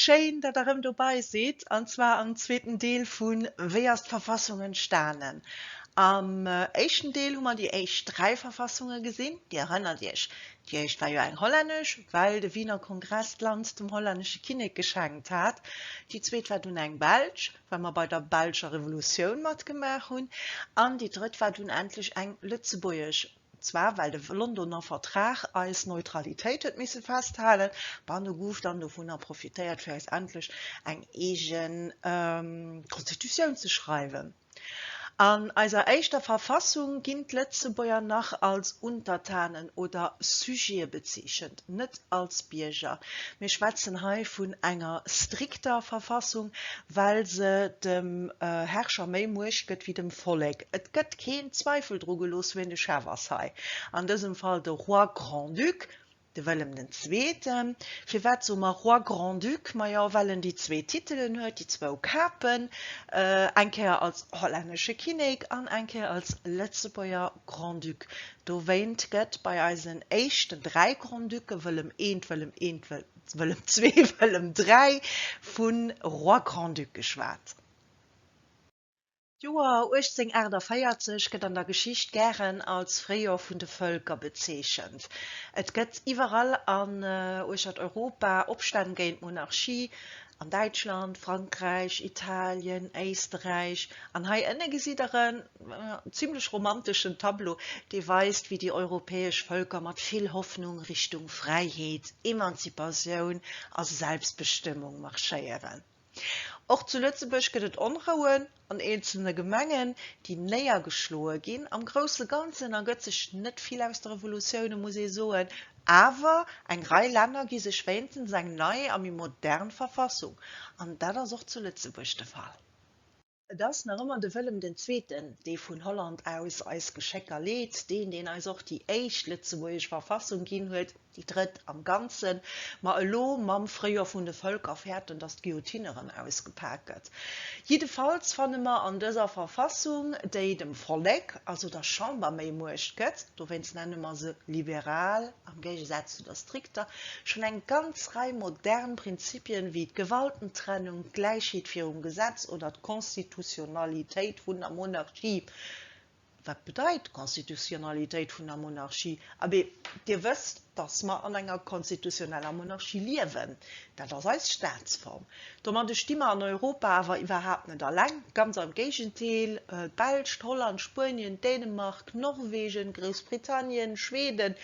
Schéin, datt der rëm dobei sidd, an zwar am zweeten Deel vu Wéi ass d'Verfassung entstanen? Am éischten Deel hu mer déi éischt dräi Verfassunge gesinn. Dir erënnert Iech, Déi éischt war jo eng hollännesch, well de Wiener Kongress d'Land dem hollännesche Kinnek geschenkt hat. Déi zweet war dunn eng belsch, well mer bei der belscher Revolutioun matgemaach hunn. An déi drëtt war dunn endlech eng lëtzebuergesch, zwar well de Londoner Vertrag eis Neutralitéit huet misse festhalen. Bah, nu gouf dann dovunner profitéiert, fir eis endlech eng eegen Konstitutioun ze schreiwen. An eiser éischter Verfassung ginn d'Lëtzebuerger nach als Untertanen oder Sujete bezeechent, net als Bierger. Mir schwätzen hei vun enger strikter Verfassung, well se dem Herrscher méi Muecht gëtt wéi dem Vollek. Et gëtt keen Zweifel dru gelooss, wien de Chef ass hei, an dësem Fall de Roi-Grand-Duc, De Wëllem den Zweeten, firwat soe mer Roi-Grand-Duc? Majo, well en déi zwee Titelen huet, déi zwou Kapen, eng Kéier als hollännesche Kinnek an eng Kéier als Lëtzebuerger Grand-Duc. Dowéint gëtt bei eisen éischten dräi Grand-Ducke, Wëllem I, Wëllem I, Wëllem ii, Wëllem iii, vu Roi-Grand-Duc geschwat. D'Joer 1848 gëtt an der Geschicht gären als Fréijor vun de Vëlker bezeechent. Et gëtt iwwerall an uechtert Europa Opstänn géint d'Monarchie, an Däitschland, Frankräich, Italien, Éisteräich, an hei ënne gesitt der en zimlech romanteschen Tableau, dee weist, wéi déi europäesch Vëlker mat vill Hoffnung Richtung Fräiheet, Emanzipatioun a Selbstbestëmmung marschéieren. Och zu Lëtzebuerg gëtt et Onrouen an eenzelne Gemengen, déi néiergeschloe ginn. Am grousse Ganzen ergëtt sech net vill aus de Revolutioune, muss ee soen. Awer eng Rei Länner gi sech wéinstens eng nei a méi modern Verfassung. An dat ass och zu Lëtzebuerg de Fall. Et ass nach ëmmer de Wëllem den Zweeten, dee vun Holland aus eis Geschécker leet, deen, deen eis och déi éischt lëtzebuergesch Verfassung ginn huet, déi drëtt am Ganzen, ma elo mam Fréijoer vun de Vëlker fäerten, datt d'Guillotine erëm ausgepak gëtt. Jiddefalls fanne mer an dëser Verfassung, déi dem Vollek, also der Chamber, méi Muecht gëtt, dowéinst nenne mer se liberal, am Géigesaz zu der strikter, schonn eng ganz Rei modern Prinzipien wéi d'Gewaltentrennung, d'Gläichheet virum Gesetz oder d'Konstitutionalitéit vun der Monarchie. Wat bedeit d'Konstitutionalitéit vun der Monarchie? Abee, Dir wësst, datt mer an enger konstitutioneller Monarchie liewen. Dat ass eis Staatsform. Domadde sti mer an Europa awer iwwerhaapt net alleng, ganz am Géigendeel, d'Belsch, d'Holland, Spuenien, Dänemark, Norwegen, Groussbritannien, Schweden,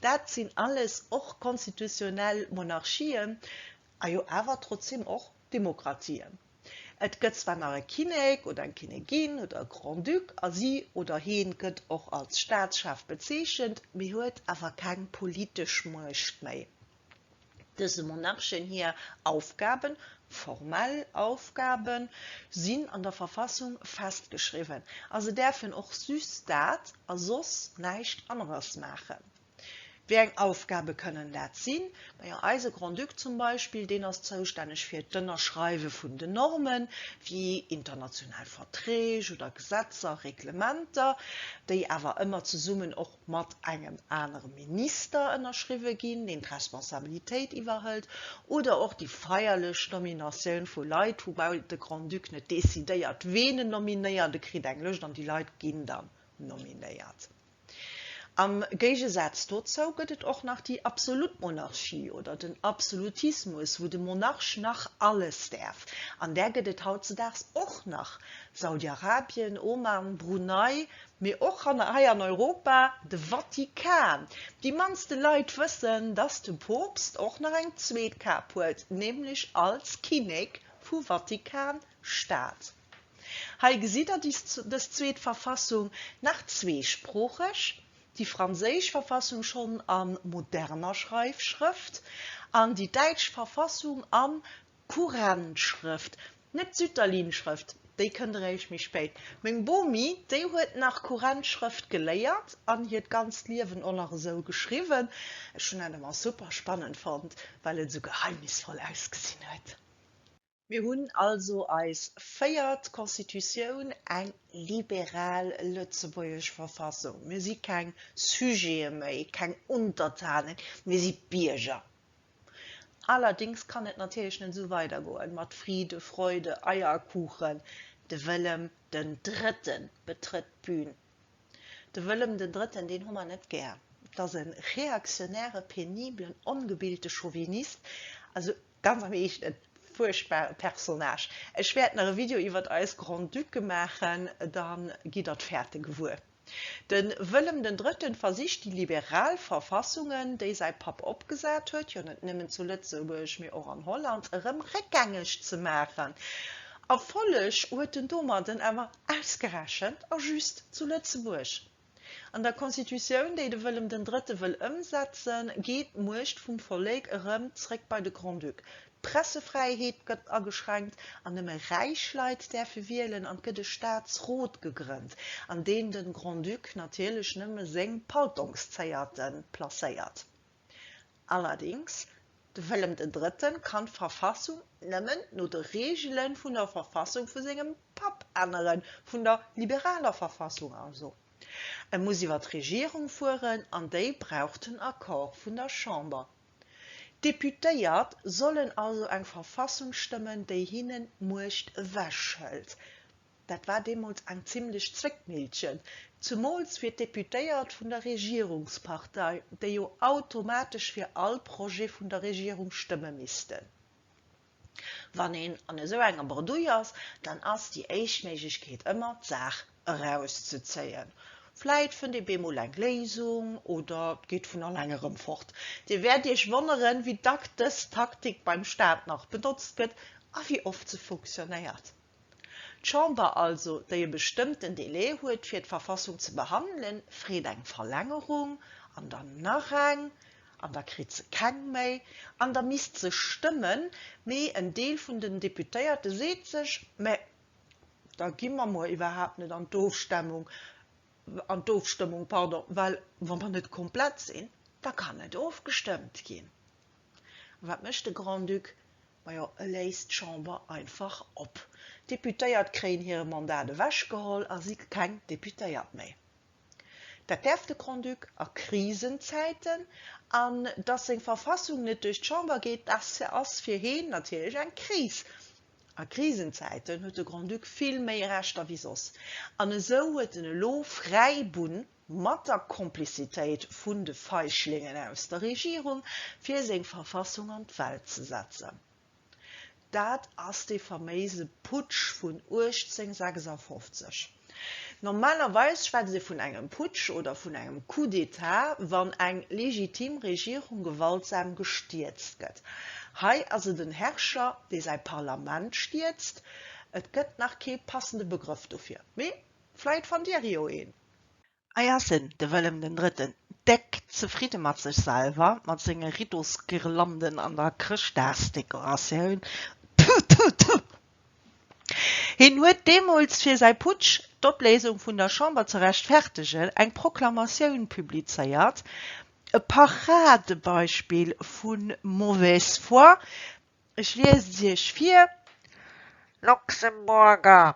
dat sinn alles och konstitutionell Monarchien, a jo awer trotzdem och Demokratien. Et gëtt zwar nach e Kinnek oder eng Kinnegin oder e Grand-Duc, a si oder heen gëtt och als Staatschef bezeechent, mee huet awer keng politesch Muecht méi. Dëse Monarchen hir Aufgaben, formell Aufgaben, sinn an der Verfassung festgeschriwwen a se däerfen och just dat a soss näischt anerers maachen. Wéi eng Aufgabe kënnen dat sinn? Majo, eise Grand-Duc zum Beispill, deen ass zoustänneg fir d'Ënnerschreiwe vun den Normen, wéi international Verträg oder Gesetzer, Reglementer, déi awer ëmmer zesummen och mat engem anere Minister ënnerschriwwe ginn, deen d'Responsabilitéit iwwerhëlt, oder och déi feierlech Nominatioun vu Leit, woubäi de Grand-Duc net decidéiert, ween en nominéiert, e kritt eng Lëscht an déi Leit ginn dann nominéiert. Am Géigesaz dozou gëtt et och nach déi absolut Monarchie oder den Absolutismus, wou de Monarch nach alles däerf, an där gëtt et hautzedaags och nach, Saudi-Arabien, Oman, Brunei, Mee och hanner hei an Europa, de Vatikan. Déi mannste Leit wëssen, dass de Poopst och nach eng zweet Kap huet, nämlech als Kinnek vu Vatikan Staat. Hei gesitt der dës zweet Verfassung, nach zweesproocheg, déi franséisch Verfassung schonn a moderner Schreifschrëft an déi däitsch Verfassung am Kurrentschrëft, net d'Sütterlin-Schrëft, déi kënnt eréischt méi spéit. Meng Bomi, déi huet nach Kurrentschrëft geléiert an hiert ganzt Liewen och nach esou geschriwwen. Ech hunn dat ëmmer super spannend fonnt, well et esou geheimnisvoll ausgesinn huet. Mir hunn also eis véiert Constitutioun, eng liberal lëtzebuergesch Verfassung. Mir si keng Sujete méi, keng Untertanen, mir si Bierger. Allerdings kann et natierlech net esou weidergoen, mat Friede, Freude, Eierkuchen, de Wëllem den Drëtten betrëtt d'Bühn. De Wëllem den Drëtten, deen hu mer net gär. Et ass e reaktionäre, peniblen, ongebilte Chauvinist, also ganz am eegene fuerchtbare Personnage. Ech wäert nach e Video iwwert eis Grand-Ducke maachen, da gitt der d'Fäerte gewuer. De Wëllem den Drëtten versicht déi liberal Verfassungen, déi säi Papp opgesat huet, jo net nëmmen zu Lëtzebuerg, mee och an Holland, erëm réckgängeg ze maachen. Erfolleg huet en domadden awer ausgerechent a just zu Lëtzebuerg. An der Constitutioun, déi de Wëllem den Drëtte wëll ëmsetzen, geet d'Muecht vum Vollek erëm zréck bei de Grand-Duc, D'Pressefräiheet gëtt ageschränkt an nëmme räich Leit däerfe wielen an et gëtt e Staatsrot gegrënnt, an deen de Grand-Duc natierlech nëmme seng Paltongszéierte placéiert. Allerdéngs, de Wëllem den Drëtten kann d'Verfassung nëmmen no de Reegele vun der Verfassung vu sengem Papp änneren, vun der liberaler Verfassung also. E muss iwwer d'Regierung fueren an déi brauch den Accord vun der Chamber. D'Deputéiert sollen also eng Verfassung stëmmen, déi hinnen d'Muecht ewech hëlt. Dat war deemools eng zimlech Zwéckmillchen, zemools fir d'Deputéiert vun der Regierungspartei, déi jo automatesch fir all Projet vun der Regierung stëmme missten. Wann een an esou enger Bredouille ass, dann ass déi éischt Méiglechkeet ëmmer, d'Saach erauszezéien. Vläit fënnt ee bemol eng Léisung oder et geet vun alleng erëm fort. Dir wäert Iech wonneren, wéi dack dës Taktik beim Staat nach benotzt gëtt a wéi oft se funktionéiert. D'Chamber also, déi e bestëmmten Delai huet fir d'Verfassung ze behandelen, freet eng Verlängerung, an dann nach eng, an da kritt se keng méi, an da misst se stëmmen. Mee en Deel vun den Deputéierte seet sech, mä da gi mer mol iwwerhaapt net an d'Ofstemmung, an d'Ofstëmmung, pardon, well wa mer net komplett sinn, da kann net ofgestëmmt ginn. Wat mécht de Grand-Duc? Majo, e léist d'Chamber einfach op. D'Deputéiert kréien hire Mandat ewech geholl a si keng Deputéiert méi. Dat däerf de Grand-Duc a Krisenzäiten. An dass seng Verfassung net duerch d'Chamber geet, dass ass fir heen natierlech eng Kris. A Krisenzäiten huet de Grand-Duc vill méi Rechter wéi soss. An esou huet en elo fräi Bunn. mat der Komplizitéit vun de Feighlingen aus der Regierung, fir seng Verfassung an d'Welt ze setzen. Dat ass dee faméise Putsch vun 1856. Normalerweis schwätzt ee vun engem Putsch oder vun engem Coup d'État, wann eng legitim Regierung gewaltsam gestierzt gëtt. Hei ass et en Herrscher, dee säi Parlament stierzt. Et gëtt nach kee passende Begrëff dofir, mee vläit fannt Dir jo een. Hei ass en, de Wëllem den Drëtten, déck zefridde mat sech selwer, mat senge Riddosguirlanden an der Chrëschtdagsdekoratioun. Thu, thu, thu! Hien huet deemools, fir säi Putsch, d'Opléisung vun der Chamber ze rechtfertegen, eng Proklamatioun publizéiert, e Paradebeispill vu mauvaise foi, ech liesen se Iech vir, Luxemburger!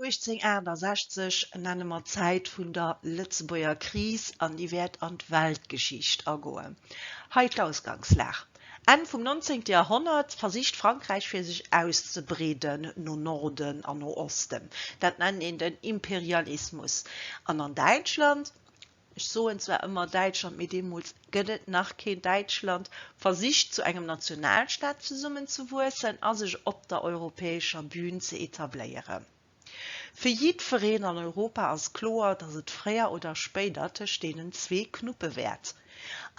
1868 nenne mer d'Zäit vun der Lëtzebuerger Kris an déi wäert an d'Weltgeschicht agoen. Hei d'Ausgangslag, Enn vum Nonzéngte Joerhonnert versicht Frankräich fir sech auszebreeden no Norden an no Osten, dat nennt een den Imperialismus, an an Däitschland Ech soen zwar ëmmer Däitschland, mee deemools gëtt et nach keen Däitschland, versicht zu engem Nationalstaat zesummenzewuessen a sech op der europäescher Bühn ze etabléieren. Fir jiddwereen an Europa ass kloer, datt et fréier oder spéider tëscht deenen zwee knuppe wäert.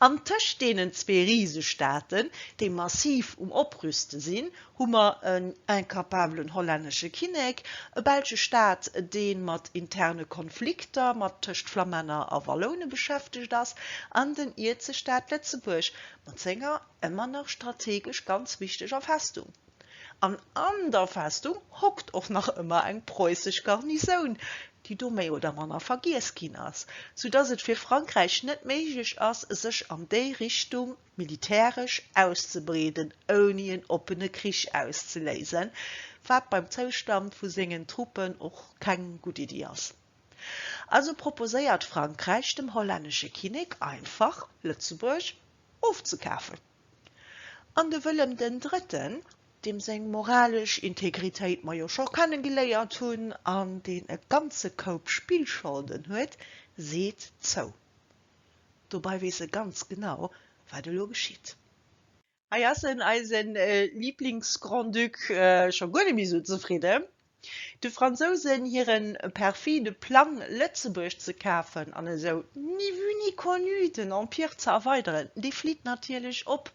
An tëscht deenen zwee Risestaaten, déi massiv um Oprüste sinn, hu mer en incapablen hollännesche Kinnek, e belsche Staat, dee mat interne Konflikter mat tëscht Flamänner a Walloune beschäftegt ass, an den Ierzestaat Lëtzebuerg mat senger ëmmer nach strategesch ganz wichteger Festung. An an der Festung hockt och nach ëmmer eng preussesch Garnisoun, déi do méi oder manner vergiess ginn ass, soudatt et fir Frankräich net méiglech ass, sech an déi Richtung, militäresch auszebreeden, ouni en oppene Krich auszeléisen, wat beim Zoustand vu sengen Truppen och keng gutt Iddi ass. Also proposéiert Frankräich dem hollännesche Kinnek einfach, Lëtzebuerg ofzekafen. An de Wëllem den Drëtten, deem seng moralesch Integritéit mer jo scho kennegeléiert hunn an deen e ganze Koup Spillscholden huet, seet zou. Dobei weess e ganz genau, wat elo geschitt. Hei ass en, eisen Lieblingsgrand-Duc, scho guer net méi esou zefridden. De Fransousen hire perfide Plang, Lëtzebuerg ze kafen an esou ni vue ni connu den Empire ze erweideren, dee flitt natierlech op.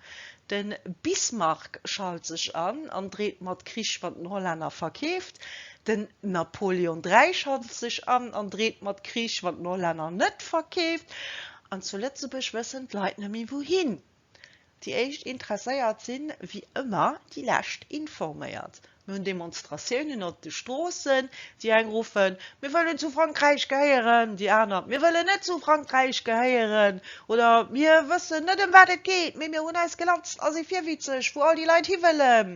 De Bismarck schalt sech an an dreet mat Krich mat den Hollänner verkeeft. Den Napoleon dräi schaltet sech an an dreet mat Krich, wann d'Norlänner net verkeeft. An zu Lëtzebuerg wëssen d'Leit net méi wouhin. Déi éischt Interesséiert sinn, wéi ëmmer, déi lescht informéiert. Mir hunn Demonstratiounen op de Stroossen, déi eng ruffen, Mir wëllen zu Frankräich gehéieren! Déi aner, Mir wëllen net zu Frankräich gehéieren! Oder, Mir wëssen net, ëm wat et geet, mee mir hunn eis gelatzt a si virwitzeg, wou all déi Leit hiwëllen.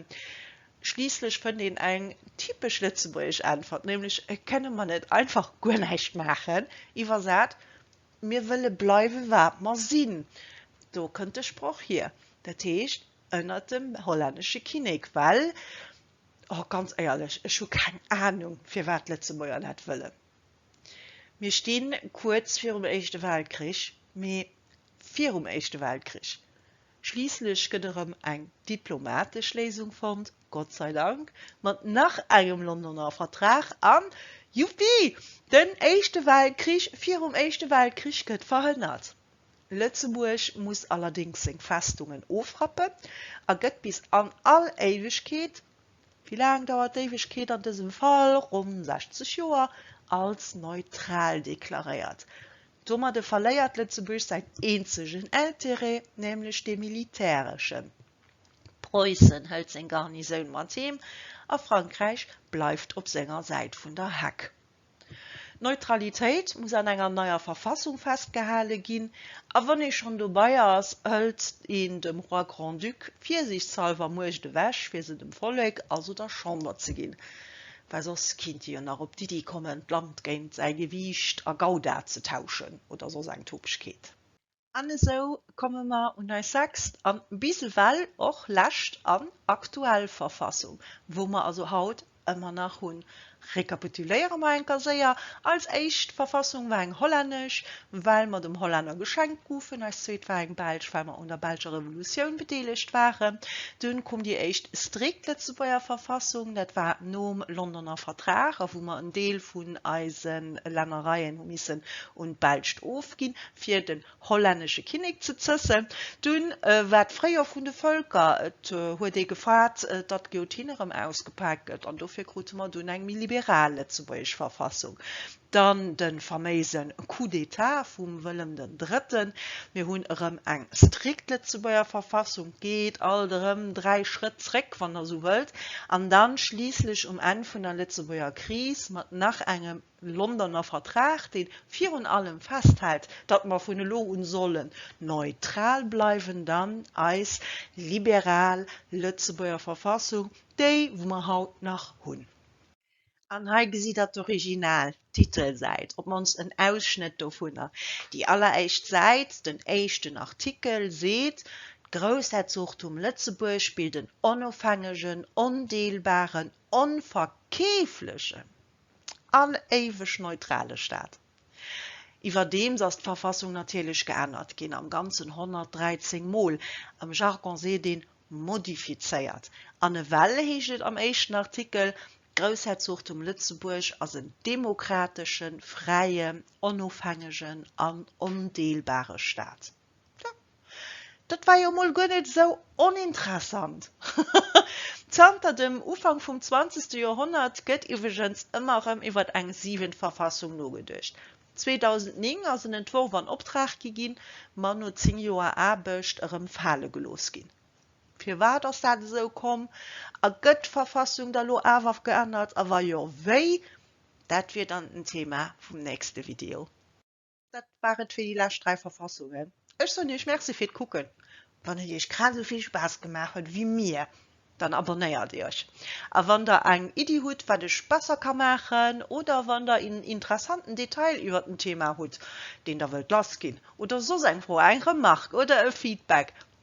Schliisslech fënnt een eng typesch lëtzebuergesch Äntwert, nämlech Kënne mer net einfach guer näischt maachen? Iwwersat, Mir wëlle bleiwe wat mer sinn. Do kënnt de Sproch hier, dat heescht ënnert dem hollännesche Kinnek. Well, oh ganz éierlech, ech hu keng Anung, firwat d'Lëtzebuerger dat wëllen. Mir sti kuerz virum Éischte Weltkrich, mee virum Éischte Weltkrich. Schliisslech gëtt erëm eng diplomatesch Léisung fonnt, Gott sei Dank, mat nach engem Londoner Vertrag an, Juppi! Den Éischte Weltkrich virum Éischte Weltkrich gëtt verhënnert. Lëtzebuerg muss allerdéngs seng Festungen ofrappen a gëtt bis an all Éiwegkeet, wéi laang dauert d'Éiwegkeet an dësem Fall, ronn 60 Joer, als neutral deklaréiert. Domadde verléiert Lëtzebuerg säin eenzegen Intérêt, nämlech dee militäreschen. Preussen hëlt seng Garnisoun mat heem a Frankräich bleift op senger Säit vun der Heck. D'Neutralitéit muss an enger neier Verfassung festgehale ginn, a wann ee schonn dobei ass, hëlt een dem Roi Grand-Duc virsiichtshalwer Muecht ewech, fir se dem Vollek, also der Chamber ze ginn. Well soss kinnt ee jo nach op d'Iddi kommen, d'Land géint säi Gewiicht a Gouda ze tauschen oder soss eng Topegkeet. An esou komme mer un eis sechst an bis ewell och lescht an aktuell Verfassung, wou mer also haut ëmmer nach hunn. Rekapituléiere mer eng Kéier séier, Als éischt Verfassung war eng hollännesch, well mer dem Hollänner geschenkt goufen, eis zweet war eng Belsch, well mer un der Belscher Revolutioun bedeelegt waren, dunn koum déi éischt strikt Lëtzebuerger Verfassung, dat war nom Londoner Vertrag, a wou mer en Deel vun eise Lännereien hu missen un d'Belscht ofginn, fir den hollännesche Kinnek ze zëssen. Dunn war d'Fréijor vun de Völker, et huet ee gefaart, datt d'Guillotine erëm ausgepaakt gëtt, an dofir krute mer dunn eng méi liberal lëtzebuergesch Verfassung. Dann de faméise Coup d'Etat vum Wëllem den Drëtten. Mir hunn erëm eng strikt Lëtzebuerger Verfassung, geet alt erëm dräi Schrëtt zréck, wann Der esou wëllt, an dann schliisslech um Enn vun der Lëtzebuerger Kris mat nach engem Londoner Vertrag, dee virun allem festhält, datt mer vun elo un sollen neutral bleiwen, dann eis liberal Lëtzebuerger Verfassung, déi wou mer haut nach hunn. An hei gesitt der d'Original Titelsäit, op d'mannst en Ausschnëtt dovunner. Déi alleréischt Säit, den éischten Artikel seet, D'Groussherzogtum Lëtzebuerg bilt en onofhängegen, ondeelbaren, onverkeeflechen an éiweg neutrale Staat. Iwwerdeems ass d'Verfassung natierlech geännert ginn, am Ganzen 113 Mol, am Jargon seet een modifizéiert. An ewell heescht et am éischten Artikel, D'Groussherzogtum Lëtzebuerg ass en demokrateschen, fräien, onofhängegen an ondeelbare Staat. Tja, dat war jo mol guer net esou oninteressant. Zanter dem Ufank vum zwanzegste Joerhonnert gëtt iwweregens ëmmer erëm iwwer eng siwent Verfassung nogeduecht. 2009 ass en Entworf an Optrag gi ginn, ma no zéng Joer Aarbecht erëm fale gelooss ginn. Firwat ass dat esou komm? A gëtt d'Verfassung da lo awer geännert? A wa jo, wéi? Dat wier dann den Thema vum nächste Video. Dat war et fir déi lescht 3 Verfassungen. Ech soen iech Merci fir d'Kucken. Wann et iech grad esou vill Spaass gemaach huet wéi mir, dann abonnéiert iech. A wann der eng Iddi hutt, wat ech besser ka maachen, oder wann der een interessanten Detail iwwert en Thema hutt, deen der wëllt lassginn, oder soss eng Fro, eng Remark oder e Feedback,